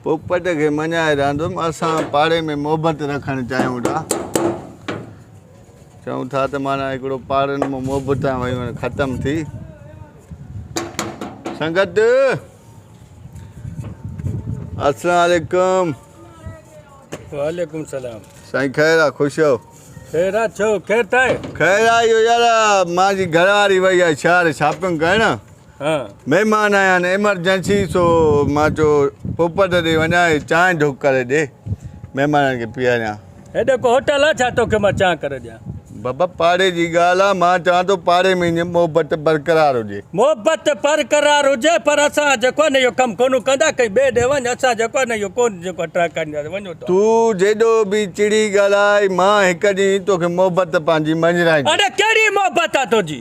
پوپٽ کي مڃائي رهندم. اسان پاڙي ۾ محبت رکڻ چاهيون ٿا. چئون ٿا ته معنيٰ هڪڙو پاڙن ۾ محبتان ويون ختم ٿي. سنگت السلام عليڪم. وعليڪم السلام. سائين خير آ خوش آهو. خير آ ڇو خير ٿا آهي. خير آ اهو يار مانجي گهر واري وئي آهي شهر شاپنگ ڪرڻ. مهمان آيا آهن ايمرجنسي سو مان چيو پوپٽ ڏي وڃان هي چانهه ڍوڪ ڪري ڏي مهمانن کي پياريان. هيڏو ڪو هوٽل آ ڇا توکي مان چانهه ڪري ڏيان. بابا پاڙي جي ڳالهه آ مان چوان ٿو پاڙي ۾ ائين محبت برقرار هجي. محبت برقرار هجي پر اسان جيڪو آهي نه اهو ڪم ڪونه ڪندا ڪنهن ٻئي ڏي وڃ اسان جيڪو آهي نه اهو ڪونه جيڪو آهي ٽراء ڪرينداسين وڃو توهان. تون جيڏو به چڙي ڳالهاء مان هڪ ڏينهن توکي محبت پنهنجي مڃرائيندس. اڙي ڪهڙي محبت آ تنهنجي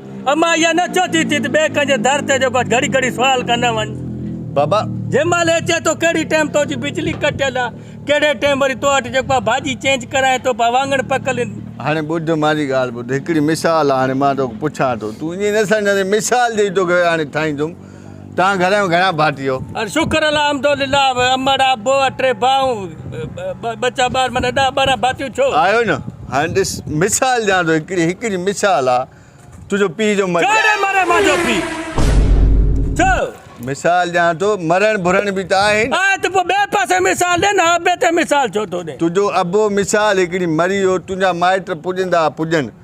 امان اها نه ڇو ٿي ٿي ته ٻئي ڪنهن جي در تي جيڪو گهڙي گهڙي سوال ڪندو وڃ. بابا! جنهن مهل هي چئي ٿو ڪهڙي ٽيم تو جي بجلي ڪٽيل آ، ڪهڙي ٽيم وري تو وٽ جيڪو آ ڀاڄي چينج ڪرايان تو پيا وانگڻ پڪل. هاڻي ٻڌ مانجي ڳالهه ٻڌ هڪڙي مثال آ هاڻي مان توکي پڇان ٿو تون ائين نه سمجهندين مثال ڏئي توکي هاڻي ٺاهيندم. توهان گهر ۾ گهڻا ڀاتيو؟ ار شڪر الحمد لله امڙ ابو اٽي ڀائون ٻچا ٻار من ڏهه ٻارهن ڀاتيون ڇو. آهيو نه هاڻي ڏس مثال ڏيان ٿو هڪڙي هڪڙي مثال آ تنهنجو پيء جو مر. ڪهڙي مري منهنجو پيء چئو. مثال ڏيان ٿو مرڻ ڀرڻ به ته آهي نه. آهي ته پوء ٻئي پاسي مثال ڏي نه ابي تي مثال ڇو ٿو ڏين. تنهنجو ابو مثال هڪڙي مري ويو تنهنجا مائٽ پڄندا پڄن.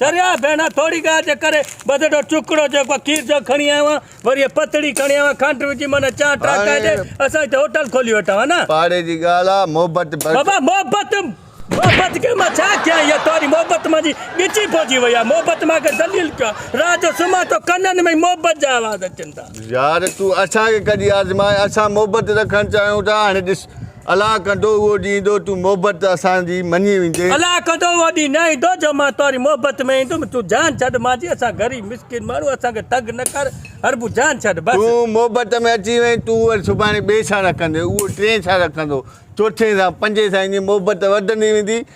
چريا ڀيڻا ٿوري ڳالهه جي ڪري ٻڌڙو ٽڪڙو جيڪو کير جو کڻي آيو آهيان وري هيء پتڙي کڻي آيو آهيان کنڊ وجهي ماني چانهه ٽهڪائي ڏي اسان هتي هوٽل کولي وٺون ها نه. پاڙي جي ڳالهه آ محبت بھرجي. بابا محبت محبت کي مان ڇا ڪيان اها توهاري محبت مانجي ڳچي پوجي وئي آهي محبت مان کي ذليل ڪيو آهي رات جو سمهان ٿو ڪنن ۾ ئي محبت جا آواز اچن ٿا. يار تون اسان کي ڪڍي آزماء اسان محبت رکڻ چاهيون ٿا هاڻي ڏس. الا ڪندو اهو ڏينهن ايندو تون محبت اسان جي مڃي ويندين. الا ڪندو اهو ڏينهن نه ايندو جو مان توري محبت ۾ ايندم تون جان ڇڏ مان جي اسان غريب مسڪين ماڻهو اسان کي تنگ نه ڪر هربو جان ڇڏ بس. تون محبت ۾ اچي وئين تون وري سڀاڻي ٻئي سان رکندين اهو ٽئين سان رکندو چوٿين سان پنجين سان ائين محبت وڌندي ويندي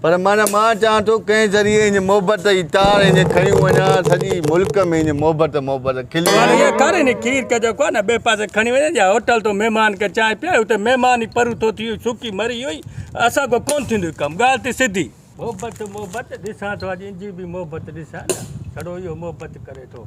پر معنيٰ مان چاهان ٿو ڪنهن ذريعي هن محبت جي تار هينئن کڻيون وڃان سڄي ملڪ ۾ هينئن محبت محبت کلي وڃي. هينئن ڪر هن کير ڪج ڪو نه ٻئي پاسي کڻي وڃن جا هوٽل تون مهمان کي چانهه پيائي اتي مهمان ئي پرو ٿو ٿي سڪي مري اهو ئي اسان کان ڪونه ٿيندو هي ڪم ڳالهه ته سڌي. محبت محبت ڏسان ٿو اڄ انجي به محبت ڏسان نه ڇڙو اهو محبت ڪري ٿو.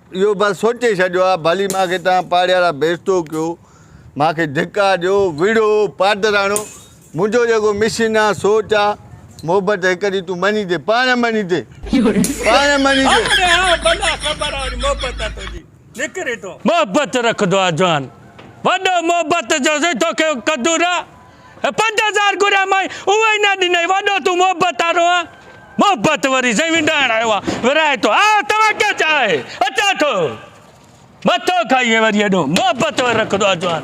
اهو بس سوچي ڇڏيو آ، ڀلي مان کي توهان پاڙيارا بيستو ڪيو، مان کي ڌڪا ڏيو، وڙهو، پادراڻو، منهنجو جيڪو مشن آ، سوچ آ، محبت هڪ ڏينهن تون مڃيندين، پاڻ مڃيندين، پاڻ مڃيندين. محبت رکندو آ جوان، وڏو محبت جو سين توکي ڪدو نه. پنج هزار گهريا مانء اهو ئي نه ڏنئي، وڏو تون محبت وارو آن، محبت وري سائين ونڊائڻ آيو آن، ورهائي ٿو، آء توهان کي چاهي اچان ٿو، مٿو کائينء وري ايڏو محبت وري رکندو آ جوان.